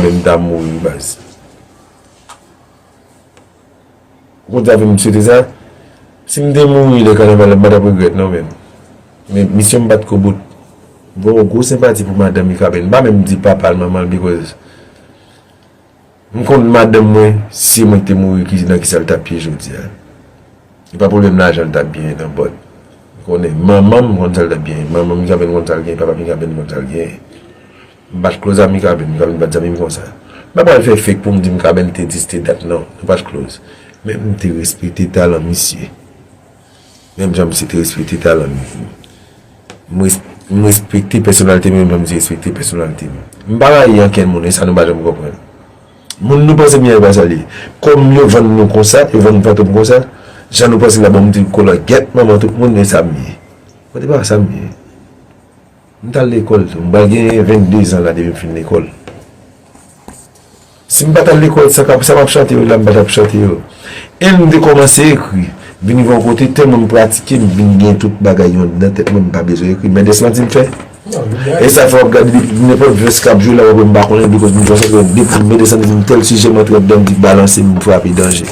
Mwen m ta mouri wi baz. Ou konn sa fè m swete sa? Si m te mouri lè kanaval la m pa t ap regrèt non men. Men misyon m pa t k o bout. M gen yon gwo senpati pou madanm Mikaben. M pa menm di papa l, manman l bikòz m konn madanm mwen si se mwen ki te mouri ki nan kisa l t ap ye jodi a. Se pa pwoblèm lajan l t ap genyen nan bòt. M konnen manman m konn sa l t ap genyen. Manman Mikaben konn sa l genyen, papa Mikaben konn sa l genyen. M pat close a Mikaben, Mikaben pat zanmim konsa. M pa pral fè fake poum di Mikaben te di se te dat non, nou pat close. Men m te respekte talan misye. Menm jan misye te respekte talan m. M respekte pèsonalite m menm jan misye respekte pèsonalite m. M pa rayi ankenn moun, e sa nou pa janm konprann. Moun nou panse miyay pa sa l ye. Kòm yo vann nou konsa, yo vann Fantom konsa, jan nou panse la bon m di kolangyèt manman tout moun e sa m ye. Mwen di pa sa m ye. M t al lekòl tou. M pral gen 22 zan la depi m fin lekòl. Si m pa t al lekòl, sa m ap chante yo la m pa t ap chante yo. E m te kòmanse ekri. Vini gen yon kote tèlman m pratike m vin gen tout bagay yo anndan tèt mwen m pa bezwen ekri. Men de sa ti m fè. E sa fè w ap gade depi nenpòt vès k ap jwe la w ap wè m pa konnen depi kote m sòti paske depi men de sa ti m tèl sijè m antre anndan m vin balanse m frape danje.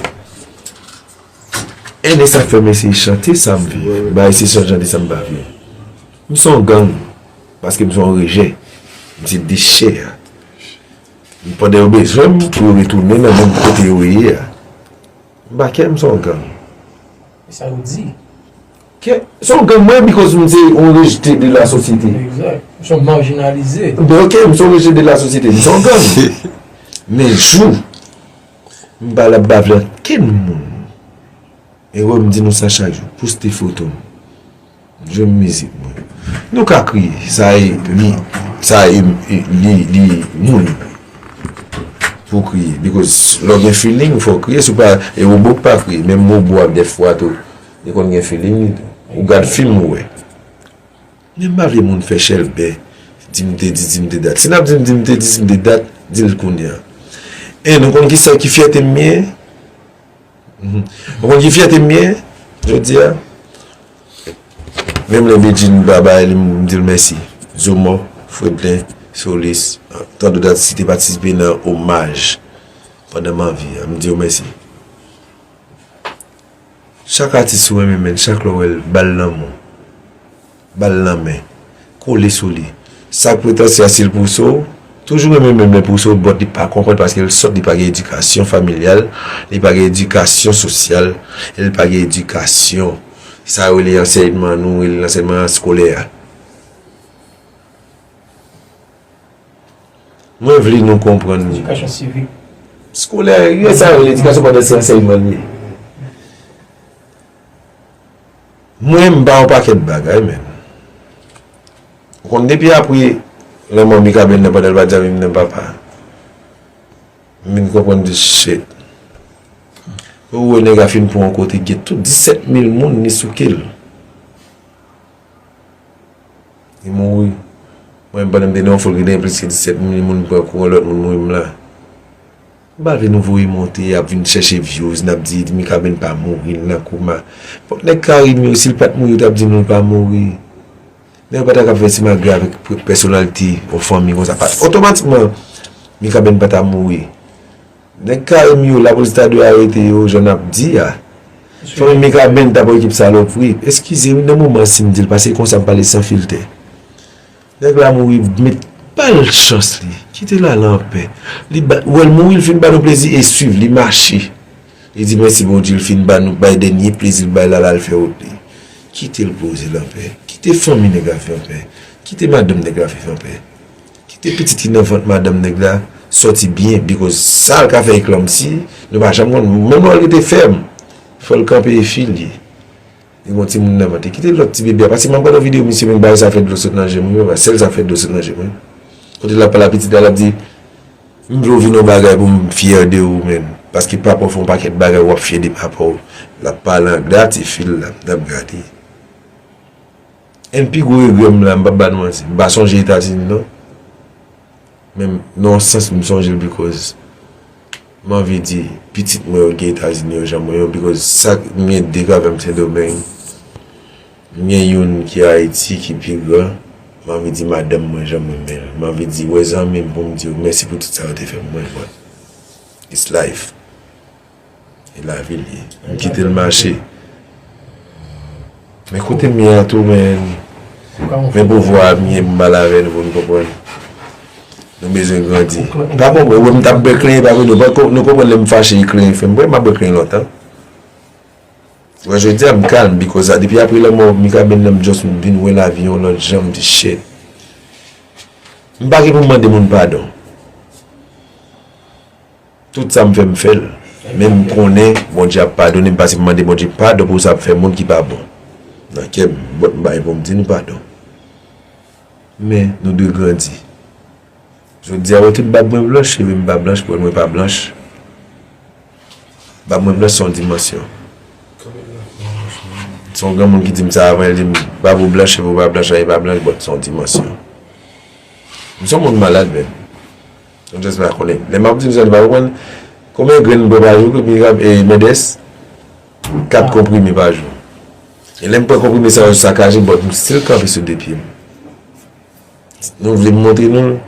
E de sa fè m eseye chante sa m viv m pa eseye chante sa m pa viv. M son gang paske m son rejè. M se dechè. M pandan yo bezwen m pou yo retounen nan menm kote yo ye a. M pa kè m son gang. E sa yo di? Kè, son gang mwen bikòz m se yon rejte de la sosyete. Egzat. M son marginalize. Ben ok, m son rejte de la sosyete. M son gang. Men jou m pa la bave ankenn moun. Ero m di nou sa chak jou. Poste foto m. Jwe m mizik mwen. Nou ka kriye. Sa e li. Sa e li. Li moun. Pou w kriye. Because lè w gen feeling fò w kriye. Si w pa. E robo k pa kriye. Menm robo a dè fwa tou. Li konn gen feeling li tou. Ou gad film ou wè. Men m pa vle moun fè chèlbè. Di m te di. Di m te dat. Si n ap di m di m te di di m te dat. Di l kounye a. E nou konn ki sa ki fyète m ye? Ou konn ki fyète m gen jodi a? Menm lè Bedjine pa bay li m di l mèsi. Zomò, Fredlin, Solis, tant dot atis ki te patisipe nan omaj pandan m anvi a, m di yo mèsi. Chak atis ou renmen menn, chak lè w wè l, ba l lanmou. Ba l nan men. Kole sou li. Sa k pretansye a si l pouse w? Toujou renmen men men pouse w bòt li pa konprann paske l sòt li pa gen edikasyon familyal, li pa gen edikasyon sosyal e l pa gen edikasyon sa yo rele ansèyman nou rele l ansèyman eskolè a. Mwen vle nou konprann. Edikasyon sivik. Eskolè, e sa yo rele edikasyon pandan se ansèyman l ye. Mwen m pa yon pakèt bagay menn ou konn depi apre lanmò Mikaben nan pandan l pa t zanmi m nan papa m vin konprann di shit ou wè nèg a fin pou yon kote gen tout 17 mil moun li souke l li mouri mwen pandan m te nan yon fol ki te gen plis ke 17 mil moun m pran kou yon lòt moun mouri m la. Pou bagay nou voye monte ap vin chèche vyouz nap di Mikaben pa mouri li nan koma fòk nèg Carime yo sil pat mouri yo tap di nou li pa mouri nèg yo pata ka fè simagri avèk pèsonalite yon fanmi konsa pat otomatikman Mikaben pata mouri nèg Carime yo lapolis ta dwe arete yo jan nap di a fanmi Mikaben tap okipe salopri eskize wi nan moman sim dil paske konsa m pale san filtè. Nèg la mouri met bal chans li kite lala anpè li bat wèl mouri li fin ba nou plezi e swiv li mache li di mèsi bondye li fin ba nou bay dènye plezi li bay lala al fè wout li kitel poze l anpè kite fanmi nèg la viv anpè kite madanm nèg la viv anpè kite pitit ki nan vant madanm nèg la sòti byen bikòz sa l ka fè eklòmsi nou pa janm konn menm lè l rete fèm fòl kanpe e fil li. Li bon timoun nan man te kite lòt ti bebe a pase m'ap gad yon video misye menm bagay sa fè dlo sot nan jem wi papa sèl sa fè dlo sot nan jem wi kote l'ap pale a pitit la l'ap di m'vle ou vin yon bagay pou m fyè de ou menm paske papa ou fè yon pakèt bagay w'ap fyè de papa ou l'ap pale anglè a ti fi l'ap gade. Yn pi gwo regrè m la m pap ba nou manti m pa sonje etazini non men nan yon sans m sonje l bikòz m anvi di pitit mwen yo gen etazini yo jan mwen yo bikòz sa m gen 2 gravè m sendomeng m gen youn ki ayiti ki pi gran m anvi di madanm mwen jan m renmen l m anvi di wè zanmi m pou m di yo mèsi pou tout sa yo te fè pou mwen bon it's life. E lavi l ye. M kite l mache. Men kote m ye a tou men. Men pouvwa m ye m mal avè l pou n konprann. Nou bezwen grandi. Pa konprann ou wè m tap bèk lè epa nou poko nou konprann lè m fache e kleren fè m bwè m ap bwè kleren lontan. Ou wè jodi a m kalm bikòz a depi apre lanmò Mikaben nan m just m vin wè lavi yon lòt jan m di shit. M pa gen pou m mande moun padon. Tout sa m fè m fè l men m konnen Bondye ap padone m pase m mande Bondye padon pou sa m fè moun ki pa bon nan kè m bòt m bay pou m di nou padon men nou dwe grandi jodi a wè tout bab mwen blanch cheve m pa blanch pwèl mwen pa blanch bab mwen blanch se yon dimansyon se yon granmoun ki di m sa avan l di m bab ou blanch cheve w pa blanch anyen pa blanch bòt se yon dimansyon m se yon moun malad menm. M just vle konnen. Lè map di m sa li pa konprann. Konbyen grenn bwe pa jou ke Mirab e Mendes? 4 konprime pa jou. E lè m pran konprime sa yo sakaje but m still kanpe sou 2 pye m. Nou vle m montre nou?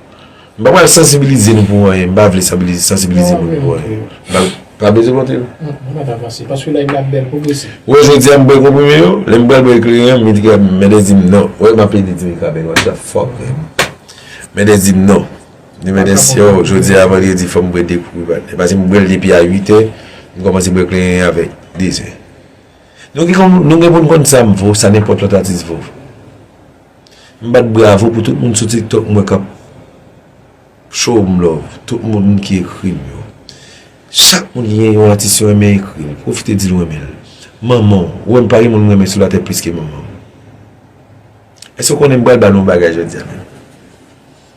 M pa pral sansibilize nou pou anyen. M pa vle sansibilize nou pou anyen. M pa bezwen montre nou. M pa vle avanse. Paske live la ap bèl pwogrese. Ou wè jodi a m bwe konprime yo? Lè m pral bwe ekleren an Mendes di m non. Ou wè m ap plede di Mirab e what the fuck man. Mendes di m non. Demen maten siyò jodi a vandredi fòm bwè 2 koup rival e pase m bwèl depi a 8 è m kòmanse bwè klenyen avèk 2 zè nou gen konn nou gen pou n konn sa m vo sa nenpòt lòt atis vo m bat bravo pou tout moun sou tiktok m wè kap show m love tout moun ki ekri m yo chak moun ki gen yon atis yo renmen ekri l pwofite di l w renmen l manman w ou wè m pa gen moun m renmen sou latè plis ke manman m èske w konnen m pral ba nou yon bagay jodi a menm.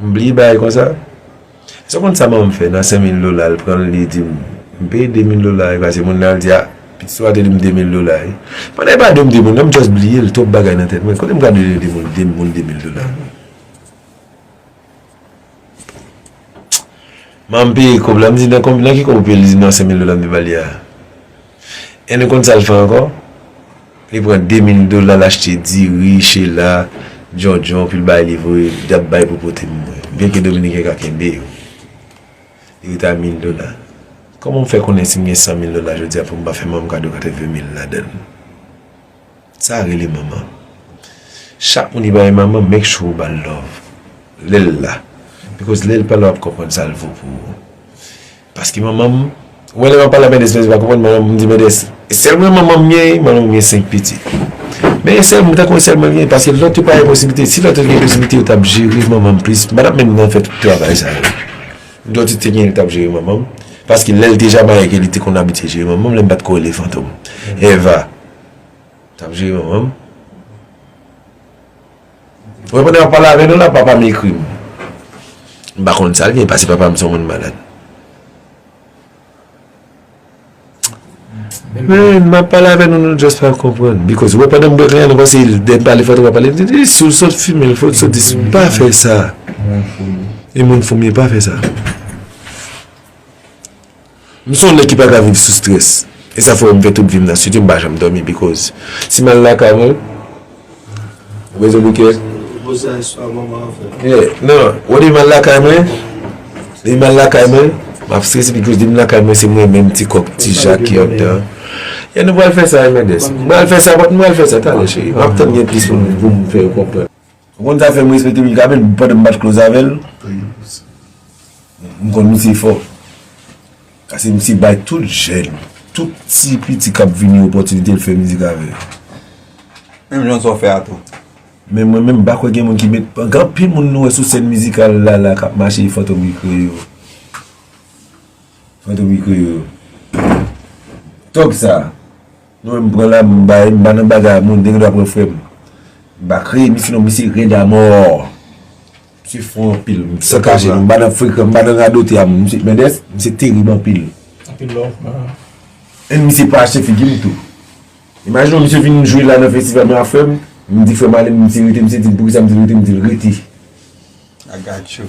M bliye bagay konsa? Eske w konn sa manman m fè nan 5000 dola l pran l li di m m peye 2000 dola wi pase moun nan al di a pitit ou a te di m 2000 dola wi pandan epa de m de moun nan m just bliye l twòp bagay nan tèt mwen kote m ka bliye de moun de moun 2000 dola manman m peye kòb la m di nan ki kòb ou peye l li di m nan 5000 dola m te ba li a. E nou konn sa l fè ankò? Li pran demil dola l achte diri, chela, djondjon pou l bay li voye li ap bay pou pote pou mwen. Byenke dominiken ka kenbe yo. Li rete a mil dola. Kòman m fè konnen si m gen san mil dola jodi a pou m pa fè manman m kado katreven mil ladan l? Sa rele manman. Chak moun ki pa gen manman make sure ou ba l love lè l la. Bikòz lè l pa la w ap konprann sa l vo pou ou. Paske manman m, ou wè lè map pale ak Mendès Mendès pa konprann manman m, m di Mendès e sèl mwen manman m gen, manman m gen 5 pitit men e sèl mwen, m ta konn e sèl mwen gen paske lòt yo pa gen posiblite, si lòt yo te gen posiblite yo tap jere manman m plis, m pa tap menm nan fè tout travay sa yo lòt yo te gen yo tap jere manman m paske lèl te Jamaïque li te konn abitye jere manman m lè m pat ko rele Fantom Eva tap jere manman m. Mwen pandan map pale avè nou la papa m ekri m. M pa konn sal gen pase papa m son moun malad. Menn map pale avè nou nou just pa konprann. Bikòz wè pandan m bwè kanya nou panse lè m pale fò nou pa pale. Si w sot fimen l fò w sot di si pa fè sa. E moun fou m ye pa fè sa. M son nèg ki paka viv sou stress e sa fè m fè tout vim nan studio m pa janm domi because si mal lakay mwen ou bezwen pou kè yeah nan wè li mal lakay mwen li mal lakay mwen map stress because li m lakay mwen se mwen menm ti kòk ti jak ki andan yeah nou pral fè sa Emèdes m pral fè sa m pral fè sa talè cheri map tann gen plis moun poum fè yo konprann. Ou konn sa fèm respekte Mikaben pandan m pat close avèl m konn misye fò pase misye bay tout jèn tout ti piti kap vini opòtinite l fè mizik avè yo menm jan sa w fè a tou men mwen menm m pa kwè gen moun ki met gen anpil moun nou wè sou sèn mizikal la la kap mache e fantom ki kreye yo fantom ki kreye yo tòg sa. Nou menm pran la m bay m pa nan baga moun gen dwa pran frem m pa kreye misye non misye red amor misye fò anpil m san kache non m pa nan frekan m pa nan radote a moun misye Mendès misye terib anpil e misye pa achte figi m tou imajine w misye vin jwe la nan festival m afèm m di frem ale m misye rete misye di m poukisa m di l rete m di l rete I got you.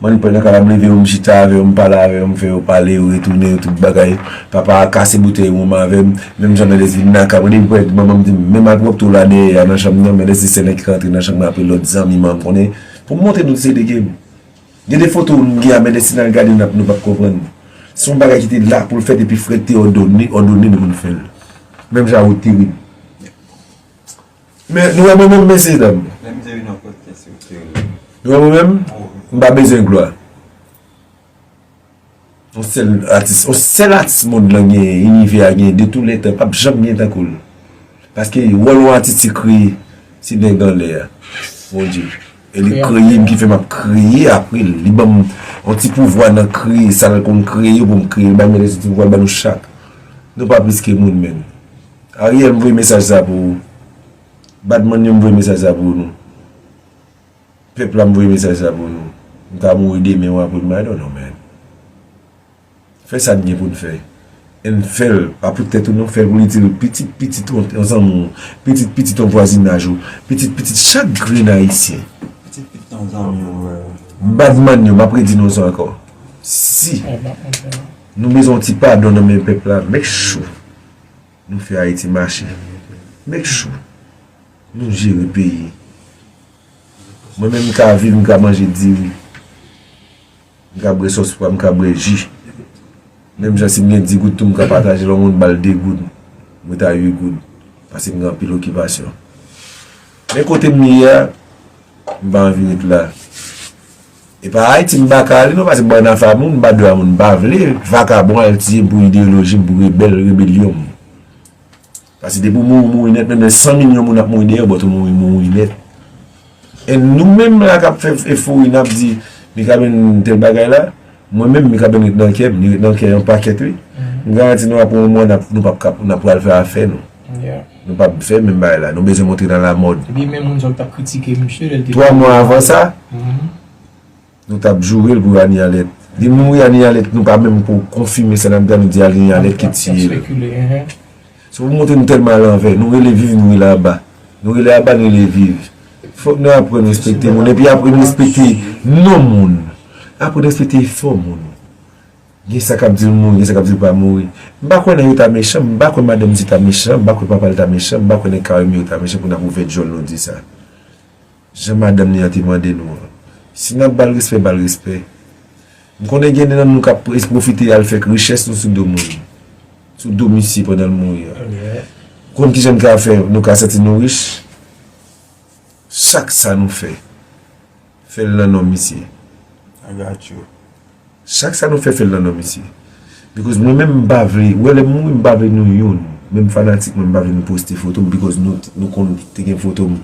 Mwen pran nan kaba m leve yo m chita avè yo m pale avè yo m fè yo pale yo retounen yo tout bagay papa a kase boutèy wonm avè m menm jan Mendès di naka mwen depi pwèt manman m di m menm ak wopto w la dèyè a nan chanm nan Mendès se sèl nèg ki ka antre nan chanm nan apre lòt zanmi m an m konnen pou m montre nou ti se de ke m gen de foto w m gen a Mendès si n al gade n ap nou p ap konprann m se yon bagay ki te la pou l fèt epi frè k te òdone n pou n fè l menm jan a wopte wi. Men nou wè mwen menm mesye dam. Nou wè mwen menm m pa bezwen glwa. On sèl atis, on sèl atis mond lan gen, inivè a gen de tou lè tan pap janm gen tankou l. Paske wòl on atis se kreye, se nèg anlè a. Mon Dye. E li kreye m ki fè m ap kreye apre l. Li banm on ti pouvwa nan kreye sa l konn kreye pou m kreye l. Li banm yon ti pouvwa l ban nou chak. Nou pa plis ke moun menn. Ariel m voye mesaj sa pou ou Badman yo m voye mesaj sa pou nou Pèp la m voye mesaj sa pou nou M ka mouri demen ou apre demen I don't know man Fè sa n gen pou n fè And fè l pa pou tèt ou non fè l pou l itil pitit pitit ou yon zanmi w pitit pitit yon vwazinaj ou pitit pitit chak grenn ayisyen pitit pitit yon zanmi w Badman yo m ap redi non sa ankò Si nou bezwen yon ti padon nan men pèp la make sure. Nou fè ayiti mache make sure Nou jere peyi Mwen menm m ka viv m ka manje diri m ka bwè sos pwa m ka bwè ji menm jan si m gen 10 goud tou m ka pataje lè w moun bal 2 goud m ret a 8 goud paske m gen anpil okipasyon men kote m ye a m pa anvi ret la. Epa Haiti m pa ka ale non pase bann afa moun m pa dwe a moun m pa vle vakabon al tiye pou ideoloji m pou rebel rebelyon m pase depi w mouri mouri net menm lè 100 milyon moun ap mouri deyè w but ou mouri mouri net and nou menm la kap fè efori nap di mikaben tel bagay la mwen menm mikaben ret nan kè m li ret nan kè yon pakèt wi m garanti nou apre yon mwa nou pap ka nou pral fè afè nou. Nou pap fè menm bagay la. Nou bezwen montre nan la mòd. Ebyen men moun sa ki tap kritike misye lèl te mouri. 3 mwa avan sa, nou tap jourel pou Annie Alette. Li mouri Annie Alette nou pa menm ko konfime sa nap di a nou di Annie Alette ki tiyel. Se pou montre nou tèlman alanvè. Nou rele viv nou rele aba. Nou rele aba nou rele viv. Fòk nou aprann respekte moun epi aprann respekte non moun. Aprann respekte efò moun. Gen sa kap dil mouri gen sa kap dil pa mouri m pa kwè nèg yo ta mechan m pa kwè madanm di ta mechan m pa kwè papal ta mechan m pa kwè nèg carime yo ta mechan pou nap ouvè dyòl nou di sa jan madanm li an te mande nou an si nap bal respè bal respè m konnen gen nan nou kap pwofite al fèk richès nou sou do moun sou do misye pandan l mouri an m konn kijan n ka fè nou ka santi nou rich chak sa nou fè. Fè l nan non misye. I got you. Chak sa nou fè fè l nan non misye. Because mwen menm m pa vle, wè lè m mouri m pa vle nou youn, menm fanatik mwen m pa vle nou poste foto m because nou konn te gen foto m.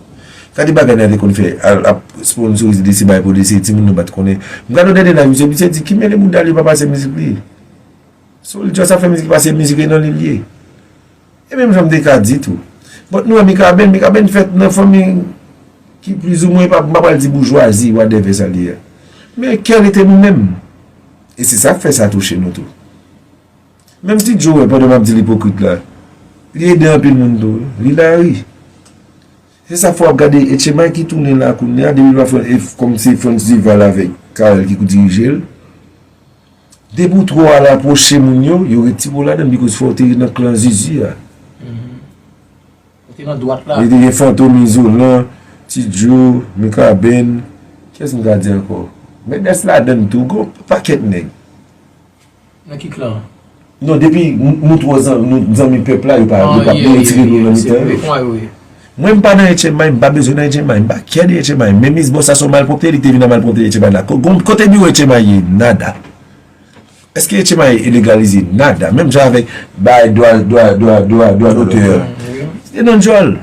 Gade bagay nèg yo konn fè, al ap sponsorize desi bay pou desi, timoun nou pat konnen. M gade yon dènye live misye, misye di ki mele mouda l yo pa pase mizik li. So l just ap fè mizik li pase mizik li e nan li l ye. E menm jan m te ka di tou. Bon, nou wè Mikaben, Mikaben fèt nan fanmi ki plizoumwen, m pa pral di boujwazi, wadèvè sa l ye a. Men kè li te nou menm. E se sa k fè sa touche nou tou. Menm ti Djo wè pandan m ap di l ipokrit la, li ede anpil moun tou wi. Li la ri. Se sa fè wap gade Etcheman ki tounen la kounya depi pa fran e kòm se Frantz Duval avèk Carel ki pou dirijel depi ou twò al apwoche moun yo yo retire w ladann bikòz fò w te nan klan zuzu a e te gen Fantom Izolan Ti Djo Mikaben kiyès m ka di ankò Mènès ladann tou gon pakèt nèg Nan ki klan? Non depi nou tro zanmi pep la yo pa retire nou nan mitan yo. Mwen m pa nan HMI m pa bezwen nan HMI m pa kè de HMI men miss boss a son malpropte li te vin nan malpropte HMI la kote biwo HMI ye nada eske HMI e legalize nada menm jan avek bay dwa dwa dwa dwa dwa dote yo se nan djol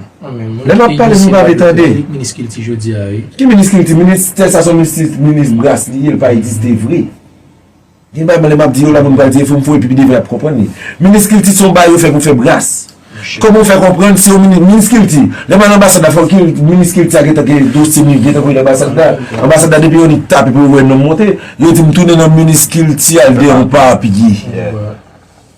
lè m ap pale nou pa vle tande ki minis kilti minis tè sa son minis bras li ye l pa egziste vre. Gen bagay mwen lè map di yo la moun pral di efom fo epi pi devan yap konprann li. Minis kilti se yon bagay yo fè pou fè bras. Kòman ou fè konprann se yon minis, minis kilti, lè m al anbasad la fò minis kilti a gentan gen dosye li gentan voye nan anbasad la. Anbasad la depi yon nèg tape pou yo wè non m monte, yo di m tounen nan minis kilti al deyò m pa apiye.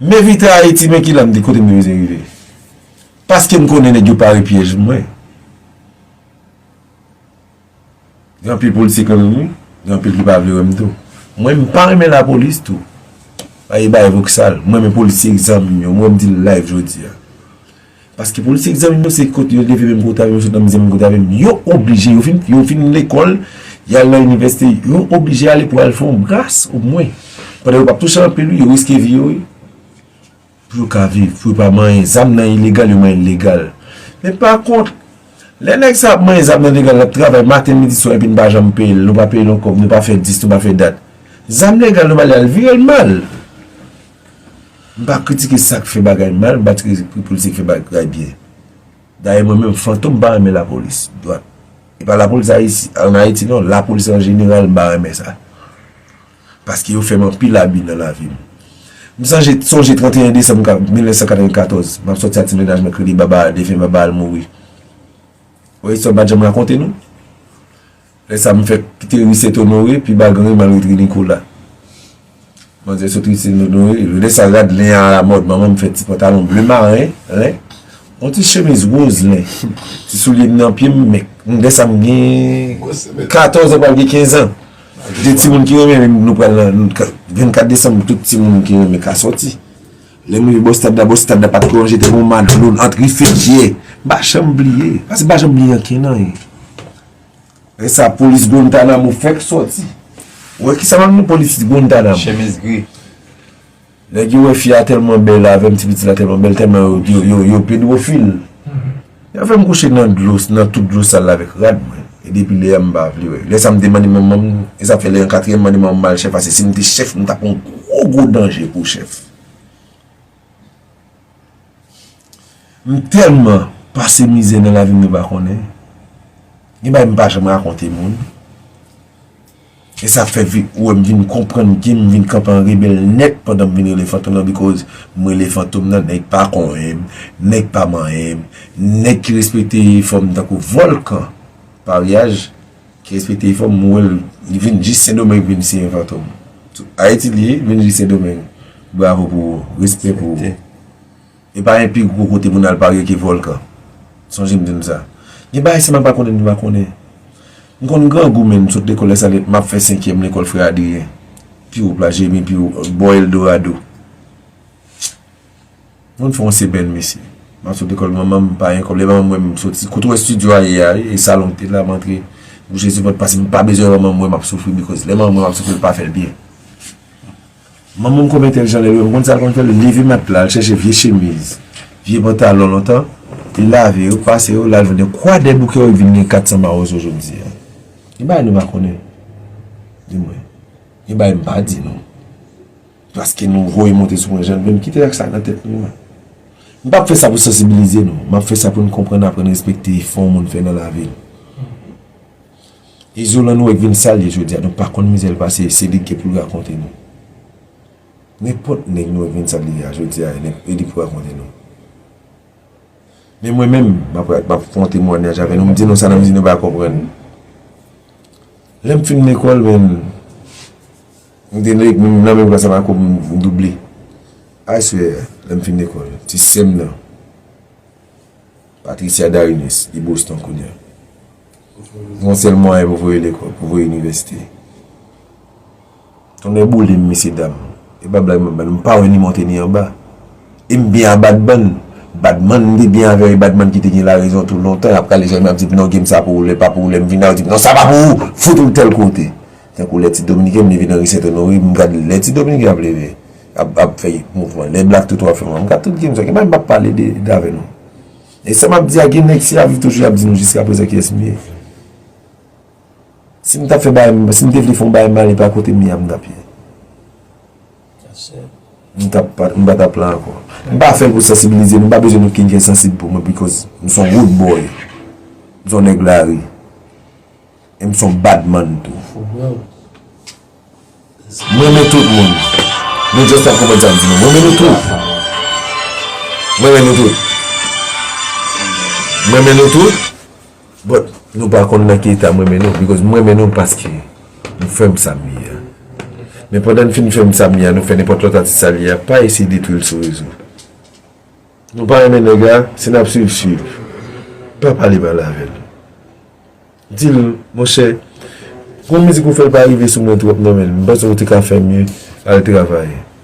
M evite Ayiti men ki la m di kote m te vize rive. Paske m konnen nèg yo pare pyèj mwen. Gen anpil politik renmen m wi, gen anpil ki pa vle wè m tou. Mwen m pa renmen lapolis tou. Paske bay voksal. M renmen polisye ak zam m yo. M wè m di l live jodi a. Paske politik zanmi m yo se kot yo leve menm kote avè m yo sot nan mizè menm kote avè m yo oblije yo fin yo fin lekòl y al nan inivèsite yo oblije ale pou al fè yon bras o mwen pandan yo p ap touche anpil wi yo riske vi yo wi pou yo ka viv pou yo pa manyen zam nan ilegal yo manyen l legal men pa kont lè nèg sa ap manyen zam nan legal l ap travay maten midi swa epi n pa janm peye l nou pa peye l yon kòb nou pa fè dis nou pa fè dat zam legal nou ba li al vire l mal. M pa kritike sak fè bagay mal, m pa kritike politisyen ki fè bagay byen. Dayè mwen menm Fantom m pa renmen lapolis dwat. E pa lapolis Ayiti, an Ayiti non, lapolis an jeneral m pa renmen sa. Paske yo fè m anpil abi nan lavi m. M sanje, sonje 31 desanm 1994, m ap sòti ak ti mennaj mwen ki rele Baba, defen Baba al mouri. Wè istwa m pa janm rakonte nou? Lè sa m fèk kite ri Sèt Onore, pi ba gran ri m al ret ri Nikola. Manzè sot ri Sèt Onore, lè sa rad len a alamòd, manman m fè ti pantalon ble maren, len, yon ti chemiz woz len, ti soulye m nan pye m, men, lè sa m gen katòz an pral gen kenzan. De timoun ki renmen ri, nou pral nan, vennkat desanm tout timoun ki renmen ka sòti. Lè m rive bò stad la, bò stad la pa t lonje tankou Madlon, ant ri Fedye, m pa janm bliye, paske m pa janm bliye ankenn anyen. E sa polis Guantanamo fèk sòti. Ou wè kisa manmi polis Guantanamo. Chemiz gri. Nèg yo wè fi a tèlman bèl avèm ti piti la tèlman bèl tèlman yo yo pedwofil. Yo fèm kouche nan dlo nan tout dlo sal la avèk rad mwen. E depi lè a m pa vle wè. Lè sa m te mande manmanm e sa fè lè an katriyèm mande manmanm mal chèf ase si m te chèf m ta pran gwo gwo danje pou chèf. M telman pase mizè nan lavim mwen pa konnen gen bagay m pa janm rakonte moun esa fè vi ou wèm vin konprann kem vin kanpe an rebèl nèt pandan m vin rele fantom nan bikòz m rele fantom nan nèg pa konvenm nèg pa manyenm nèg ki respekte fòm tankou vòlkan paryaj Ki respekte efò m, m wè l li vin jis sendomeng pou vin siyen fantom. Ayiti li ye, li vin jis sendomeng. Bravo pou ou, respè pou ou. E pa gen pi gwo kote pou n al parye ke vòlkan. Sonje m di nou sa. Gen bagay si m pa konnen m pa konnen. M konn grangou men m sot lekòl lè sa lè m ap fè senkyèm lekòl frè Adriyen. Pi wo plas Jeremi pi wo bò Eldorado. Moun fè yon sebèn mesye. Map sot lekòl manman m pa gen kòb lè manman m wè m soti kote w wè studio a ye a wi e salon m te la m antre m bouche ti pòt pase m pa bezwen manman m wè map soufri bikòz lè manman m wè map soufri l pa fè l byen manman m kòm entèlijan lè l wè m konn sa l konn fè l leve matla al chèche vye chemiz vye pantalon lontan li lave yo pase yo la l vin gen kwa dè bouke yo l vin gen 400 mawozo jodi a gen bagay nou pa konnen di mwen gen bagay m pa di nou. Paske nou voye monte sou mwen jan vle, m kite ak sa nan tèt nou an. M pap fè sa pou sansibilize nou, m ap fè sa pou n konprann aprann respekte efò yon moun fè nan lavi l. Izolan nou wè k vin sa l ye jodi a, nou pa konn mizè l pase, se li k gen pou l rakonte nou. Nenpòt nèg nou wè k vin sa l ye a jodi a, e li pou rakonte nou. Men mwen menm, m ap fè yon temwanyaj avè nou, m di nou sa nan mizik nou pa konprann. Lè m fin lekòl menm, m te nan menm klas avè Ako, m double. I swear, lè m fin lekòl, ti sè m nan, Patricia Darines, li Boston kounya. M gen yon sèl mwayen pou voye lekòl, pou voye inivèsite. Tonnè boulem mesye dam e pa blag map bal m pa wè ni monte ni anba e m byen a badman badman m te byen avèw e badman kite gen la rezon tou lontan yap rale jèm yap dim non gem sa pou ou lè pa pou ou lèm vin la ou dim non sa pa pou ou fout ou tèl kote tankou lè ti dominiken m leve nan ri senthonory m gad lè ti dominiken ap leve ap ap fè mouvman lè black toto ap fè mouvman m gad tout gem sa ki bay m pap pale de avè nou e sa map di a gen nèg si yap viv toujou yap di nou jiskaprezan kiyès m ye. Si m tap fè bagay si m te vle fè yon bagay mal epa kote m ye a m tap ye m tap pa m pa tap la ankò m pa fè l pou sansibilize nou m pa bezwen nou kin fè sansib pou mwen bikòz m son wood boy m son nèg lari e m son bad man tou m renmen tout moun nou just pa konprann sa m di nou m renmen nou tout m renmen nou tout m renmen nou tout But nou pa konn nan ki eta m renmen nou because m renmen nou paske nou fè m sa m ye a. Men pandan n fin fè m sa m ye a nou fè nenpòt lòt atis sa l ye a pa eseye detwi l sou rezo. Nou pa renmen nèg la si n ap swiv swiv pa pale mal avè l. Di l monchè gon mizik ou fè l pa rive sou mwen twòp nan men m panse ou te ka fè mye al travay